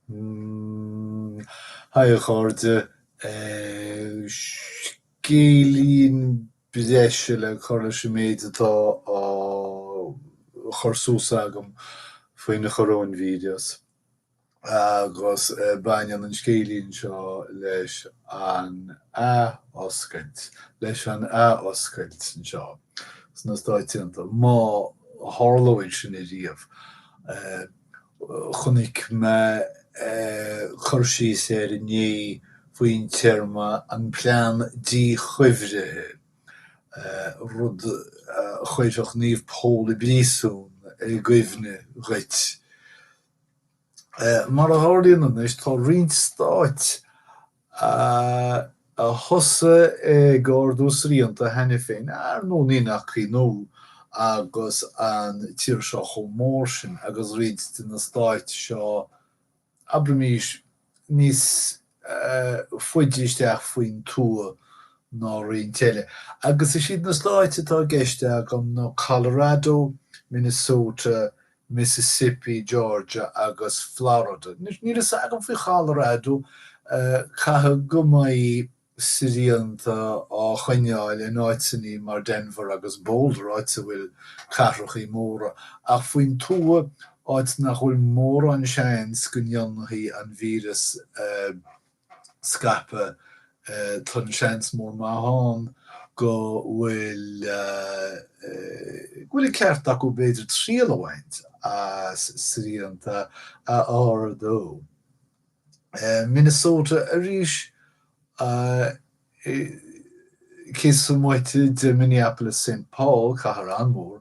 Bhuel haigh a chairde, scéilín breise le cur leis an méid atá á chur suas agam faoin choróinvíreas. agus baineann an scéilín seo leis an athoscailt, leis an athoscailt anseo sna Stáit Aontaithe, má tharlaíonn sin ariamh. Chonaic mé cur síos air inné faoin téarma an plean díchuibhrithe, rud a chuirfeadh Naomh Pól i bpríosún i gcuimhne dhuit. Mar a tharlaíonn anois tá roinnt stáit a thosaigh ag ardú srianta cheana féin, ar ndóigh ní nach ionadh agus an tír seo chomh mór sin agus roinnt de na stáit seo, abraimís, níos faide isteach faoin tuath ná roinnt eile, agus is iad na stáit atá i gceist agam ná Colorado, Minnesota, Mississippi, Georgia agus Florida. Anois, níl a fhios agam faoi Cholorado, caithfidh go mbeidh srianta á gcoinneáil in áiteanna mar Denver agus Boulder, áit a bhfuil cathracha móra, ach faoin tuath, áit nach bhfuil mórán seans go ndéanfaidh an víreas scaipeadh, tá an seans mór maith ann go bhfuil go bhfuil an ceart acu b'fhéidir triail a bhaint as srianta a ardú. Minnesota arís cé sa moite de Minneapolis Saint Paul, cathair an-mhór,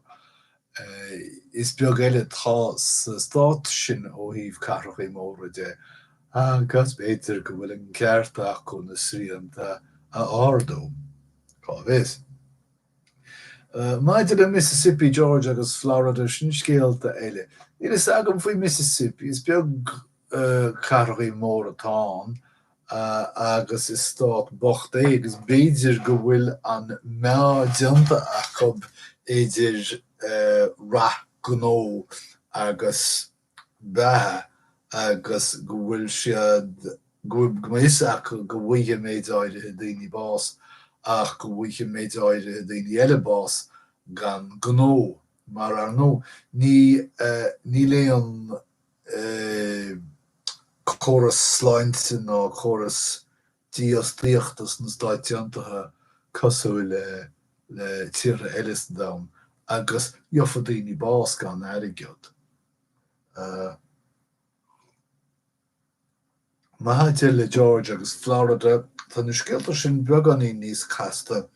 is beag eile atá sa stát sin ó thaobh cathrachaí móra de agus b'fhéidir go bhfuil an ceart acu na srianta a ardú, cá bhfios. Maidir le Mississippi George agus Florida, sin scéalta eile. Níl fhios agam faoi Mississippi, is beag cathrachaí móra atá ann agus is stát bocht é agus b'fhéidir go bhfuil an meá déanta acu idir rath gnó agus beatha agus go bhfuil siad, go bhfuil a fhios acu go bhfuigheadh méid áirithe daoine bás ach go bhfuigheadh méid áirithe daoine eile bás gan gnó. Mar ar ndóigh, ní, níl aon córas sláinte ná córas dífhostaíochta sna Stáit Aontaithe cosúil le tíortha eile sa domhan agus gheofa daoine bás gan airgead. Maidir le Georgia agus Florida, tá na scéalta sin beagáinín níos casta.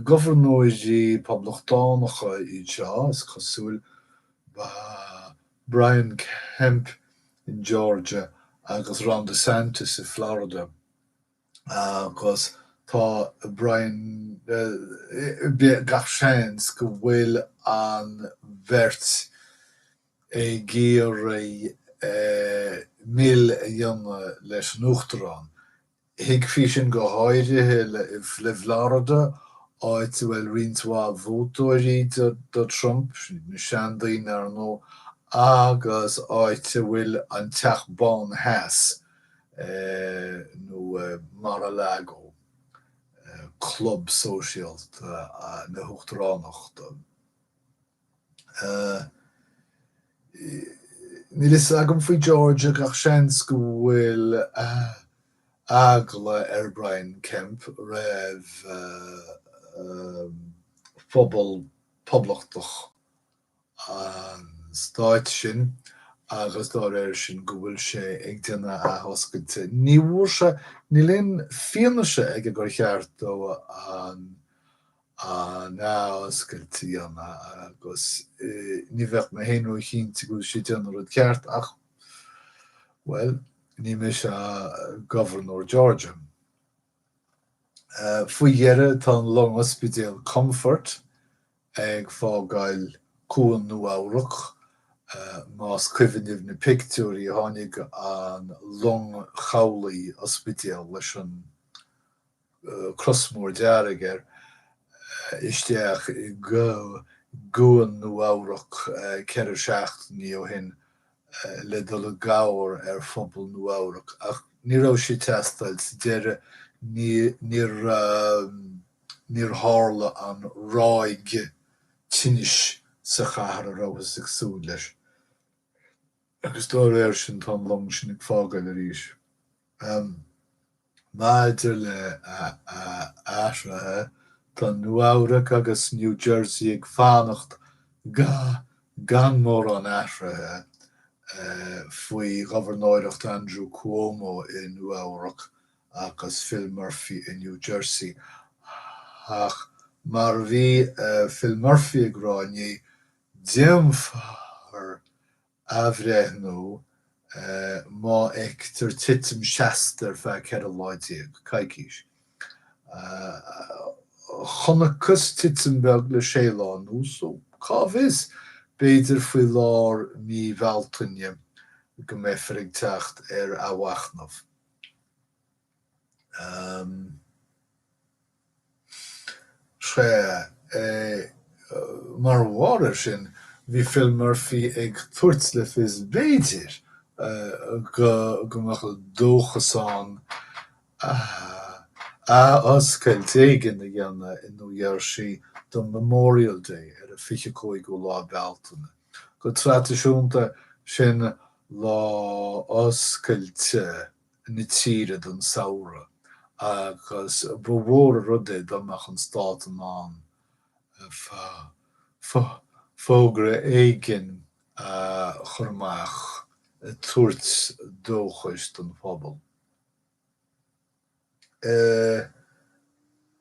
Gobharnóirí Poblachtánacha anseo, is cosúil, ba Brian Kemp in Georgia agus Ron DeSantis i Florida agus tá gach seans go bhfuil an bheirt ag iarraidh mil a dhéanamh leis an Uachtarán Thuigfí sin go háirithe i bhFlorida, áit a bhfuil roinnt mhaith vótóirí do Trump, na seandaoine ar ndóigh, agus áit a bhfuil an Teach Bán Theas, nó Mar-a-Lago, Club Sóisialta an Uachtaráin. Níl fhios agam faoi Georgia ach seans go bhfuil eagla ar Brian Kemp roimh phobal poblachtánach an stáit sin agus dá réir sin go bhfuil sé ag déanamh athoscailte. Ní bhfuair sé, níl aon fianaise aige gur cheart dó an athoscailt a dhéanamh agus ní bheadh mé féin ró-chinnte go bhfuil sé ag déanamh an rud ceart ach bhuel, ní mise Gobharnóir Georgia. Faoi dheireadh tá an long ospidéal Comfort ag fágáil Cuan Nua-Eabhrac, más cuimhin libh na pictiúirí, tháinig an long chabhlaigh ospidéal leis an cros mór dearg air isteach i gcuan Nua-Eabhrac ceithre seachtainí ó shin le dul i gcabhair ar phobal Nua-Eabhrac ach ní raibh sí ag teastáil. Sa deireadh ní, níor, níor tharla an ráig tinnis sa chathair a rabhthas ag súil leis. agus dá réir sin tá an long sin ag fágáil arís. Maidir le athraithe, tá Nua Eabhrac agus New Jersey ag fanacht go, gan mórán athraithe faoi ghobharnóireacht Andrew Cuomo i Nua Eabhrac agus Phil Murphy i New Jersey. Ach mar a bhí Phil Murphy ag rá inné, Déanfar athbhreithniú má fheictear titim seasta ar feadh 14 lá, coicís. Chonacthas titim bheag le sé lá anuas so, cá bhfios, b'fhéidir faoi lár mí Bhealtaine go mbeifear ag teacht ar athmhachnamh. Sea, mar bharr air sin, bhí Phil Murphy ag tabhairt le fios b'fhéidir go mbeadh dóchas ann athoscailt éigin a dhéanamh i Nua Gheirsí don Memorial Day ar an 25ú lá Bealtaine. Go traidisiúnta, sin lá oscailte na tíre don samhradh agus ba mhór an rud é dá mbeadh an stát in ann fógra éigin a chur amach ag tabhairt dóchais don phobal.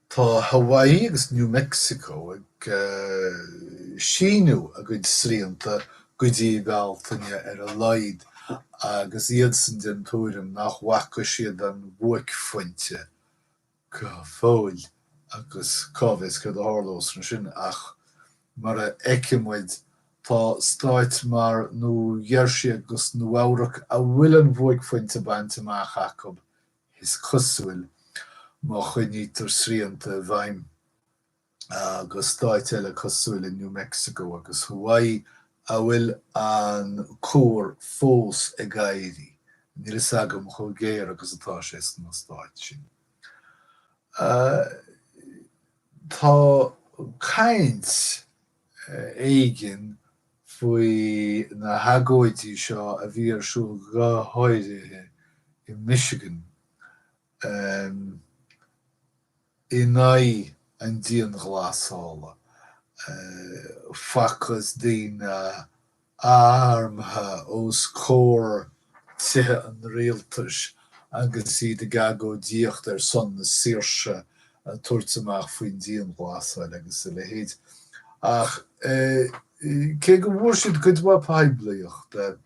Tá Hawaii agus New Mexico ag síniú a gcuid srianta go dtí Bealtaine ar a laghad agus iadsan den tuairim nach bhfaca siad an bhuaicphointe go fóill agus cá bhfios céard a tharlós ansin ach mar a fheicfidh muid tá stáit mar Nua Gheirsí agus Nua Eabhrac a bhfuil an bhuaicphointe bainte amach acu is cosúil, má choinnítear srianta i bhfeidhm, go dtí stáit eile cosúil le New Mexico agus Hawaii, a bhfuil an cuar fós ag éirí. Níl fhios agam chomh géar agus atá sé sna stáit sin. Tá caint éigin faoi na hagóidí seo a bhí ar siúl go háirithe i Michigan in aghaidh an dianghlasála, facthas daoine armtha os comhair Tithe an Rialtais agus iad ag agóidíocht ar son na saoirse ag tabhairt amach faoin dianghlasáil agus a leithéid. Ach cé go bhfuair siad cuid mhaith poiblíochta,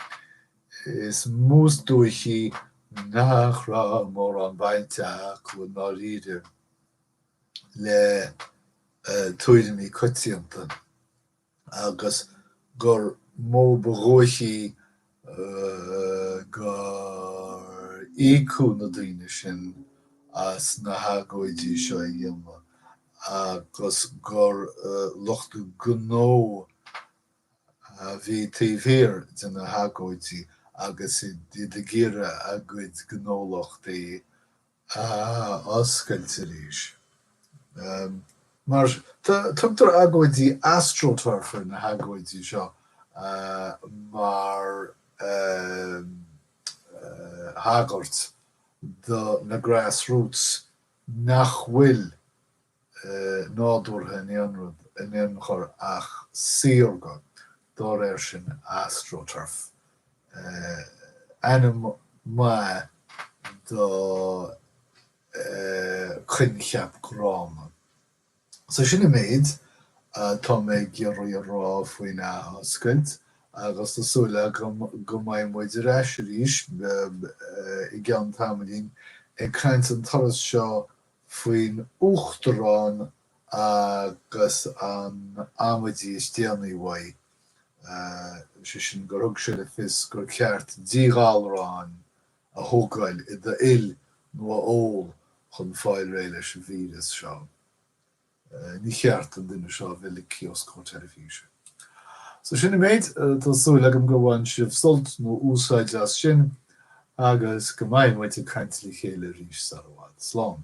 is mó is dóichí nach raibh mórán baint acu i ndáiríre le tuairimí coitianta. agus gur mó ba dhóichí go n-íocfaí na daoine sin as na hagóidí seo a dhéanamh agus gur lucht gnó a bhí taobh thiar de na hagóidí agus iad ag iarraidh a gcuid gnólachtaí a oscailt arís. Um, mar tu- tugtar agóidí astroturf ar na hagóidí seo uh, mar um, uh, thagairt do na grassroots nach bhfuil nádúrtha in aon chor ach saorga, dá réir sin astroturf, ainm maith do choincheap gránna. So sin an méid atá mé ag iarraidh a rá faoin athoscailt agus tá súil agam go mbeidh muid ar ais arís i gceann tamaillín ag caint an turas seo faoin Uachtarán agus an amaidí is déanaí uaidh, sé sin gur thug sé le fios gur ceart díghalrán a thógáil i d'fhuil nó a ól chun fáil réidh leis an víreas seo. Ní ceart don duine seo a bheith le clos ar an teilifís. So sin an méid, tá súil agam gur bhain sibh sult nó úsáid as sin agus go mbeidh muid ag caint le chéile arís sar i bhfad. Slán!